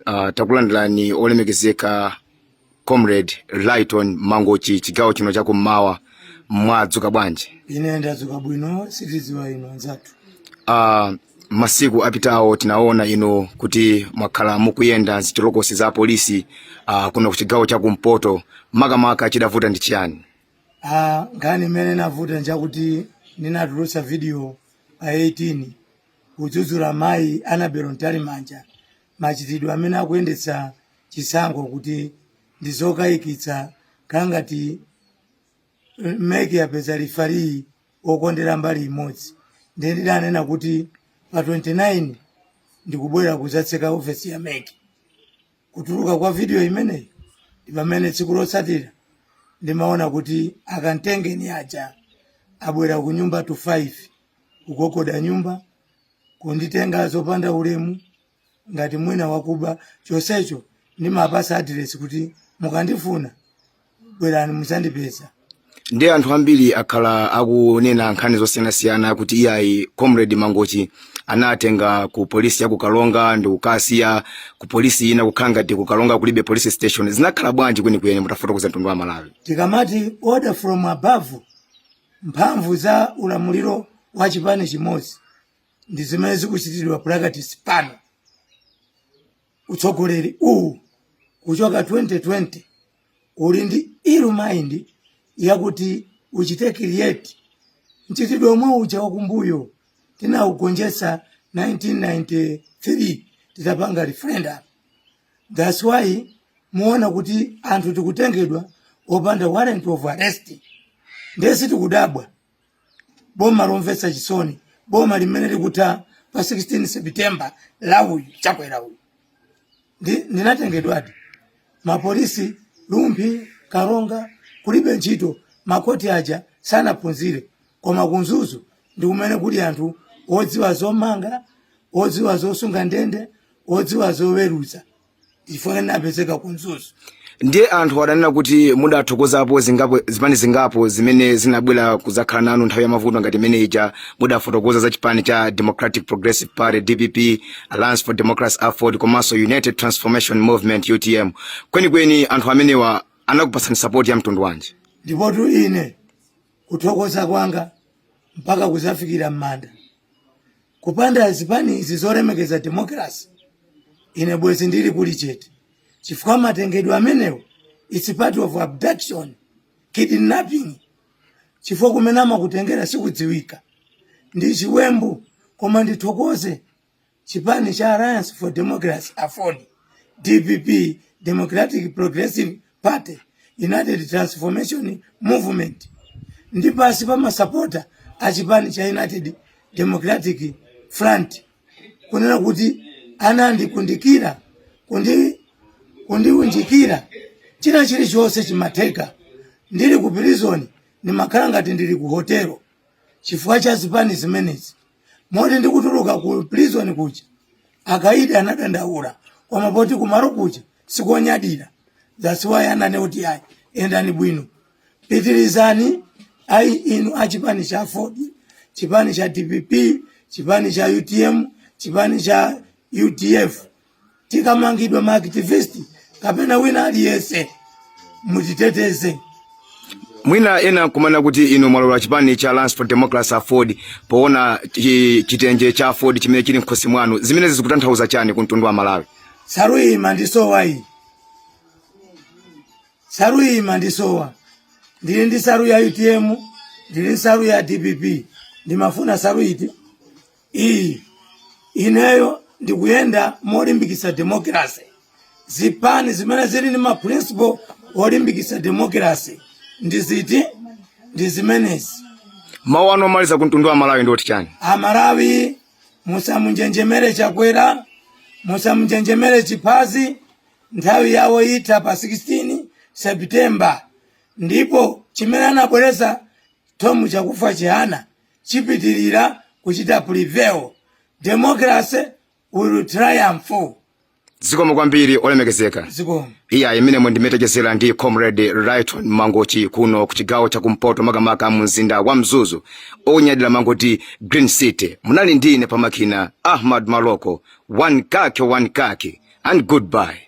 uh, takulandirani olemekezeka comrade lighton mangochi chigawo chino chakummawa mwadzuka bwanji ine ndadzuka bwino sitidziwa inu anzathu uh, masiku apitawo tinaona inu kuti mwakhala mukuyenda m'zitolokosi za polisi uh, kuno ku chigawo chakumpoto makamaka chidavuta ndi chiyani Ah, nkhani imene inavuta njakuti ninatulutsa video pa 18 kudzudzula mayi Annabel Mtalimanja machitidwe amene akuyendetsa chisankho kuti ndi zokayikitsa kukhala ngati eh, mec yapeza lifali okondera mbali imodzi ndiye ndidanena kuti pa 29 ndikubwera kudzatseka ofesi ya mec kutuluka kwa video imeneyi ndi pamene tsiku lotsatira ndimaona kuti akantengeni aja abwera ku nyumba to 5 kugogoda nyumba kunditenga zopanda ulemu ngati mwina wakuba chonsecho ndimawapatsa adiresi kuti mukandifuna bwerani mudzandipeza ndiye anthu ambiri akhala akunena nkhani zosiyanasiyana kuti iyayi comrade mangochi anatenga ku polisi ya ku karonga ndi kukasiya ku polisi ina kukhala ngati ku karonga kulibe police station zinakhala bwanji kwenikweni mutafotokozera mtundu wa malawi tikamati order from above mphamvu za ulamuliro wa chipani chimodzi ndi zimene zikuchitidwa practice pano utsogoleri uwu kuchoka 2020 uli ndi ill mind yakuti uchite create mchitidwe omwe uja wakumbuyo tinaugonjetsa 1993 titapanga referendum thats why muona kuti anthu tikutengedwa opanda warrant of arrest ndiye sitikudabwa boma lomvetsa chisoni boma limene likutha pa 16 september la uyu chakwera uyu Ndi- ndinatengedwadi m'mapolisi rumphi karonga kulibe ntchito makoti aja sanaphunzire koma ku mzuzu ndi kumene kuli anthu odziwa zomanga odziwa zosunga ndende odziwa zoweruza chifukwa napezeka ku mzuzu ndiye anthu adanena kuti mudathokozapo zipani zingapo zimene zinabwera kudzakhala nanu nthawi ya mavuto ngati imene ija mudafotokoza za chipani cha democratic progressive party dpp alliance for democracy aford komanso united transformation movement utm kwenikweni anthu amenewa anakupatsani sapoti ya mtundu wanji ndipotu ine kuthokoza kwanga mpaka kudzafikira m'manda kupanda zipani izi zolemekeza demokrasi ine bwezi ndili kuli chete chifukwa matengedwe amenewo its part of abduction kidnapping chifukwa kumene amakutengera sikudziwika ndi chiwembu koma ndithokoze chipani cha alliance for democracy aford dpp democratic progressive Party, United Transformation Movement ndi pansi pa masapota a chipani cha United Democratic Front kunena kuti anandikundikira kundiunjikira china chilichonse chimatheka ndili ku prison ndimakhala ngati ndili ku hotelo chifukwa cha zipani zimenezi moti ndikutuluka ku prison kuja akaidi anadandaula koma poti kumalo kuja sikonyadira that's why ananena kuti ayi yendani bwino pitirizani ayi inu a chipani cha aford chipani cha dpp chipani cha utm chipani cha udf tikamangidwa maaktivist kapena wina aliyense mutiteteze mwina ena nkumanena kuti inu mwalowa chipani cha alliance for democracy aford poona chitenje cha aford chimene chili mkhosi mwanu zimenezi zikutanthauza chani ku mtundu wa malawi nsalu imandisowa iyi nsalu imandisowa ndili ndi nsalu ya utm ndili ndi nsalu ya dpp ndimafuna nsalu iti iyi ineyo ndikuyenda molimbikitsa democracy zipani zimene zili ndi maprinciple olimbikitsa democracy ndi ziti ndi zimenezi mawu anu omaliza ku mtundu wa malawi ndi oti chani amalawi musamunjenjemere chakwera musamunjenjemere chiphazi nthawi yawo itha pa 16 septemba ndipo chimene anabweretsa tomu chakufa chihana chipitirira kuchita prevail democracy will triumph zikomo kwambiri olemekezeka zikomo iya umu ndi momwe tachezera ndi comrade Lyton mangochi kuno ku chigawo cha kumpoto makamaka mu mzinda wa mzuzu onyadira amangoti green city munali ndi ine pamakina ahmad maloko one kake one kake and goodbye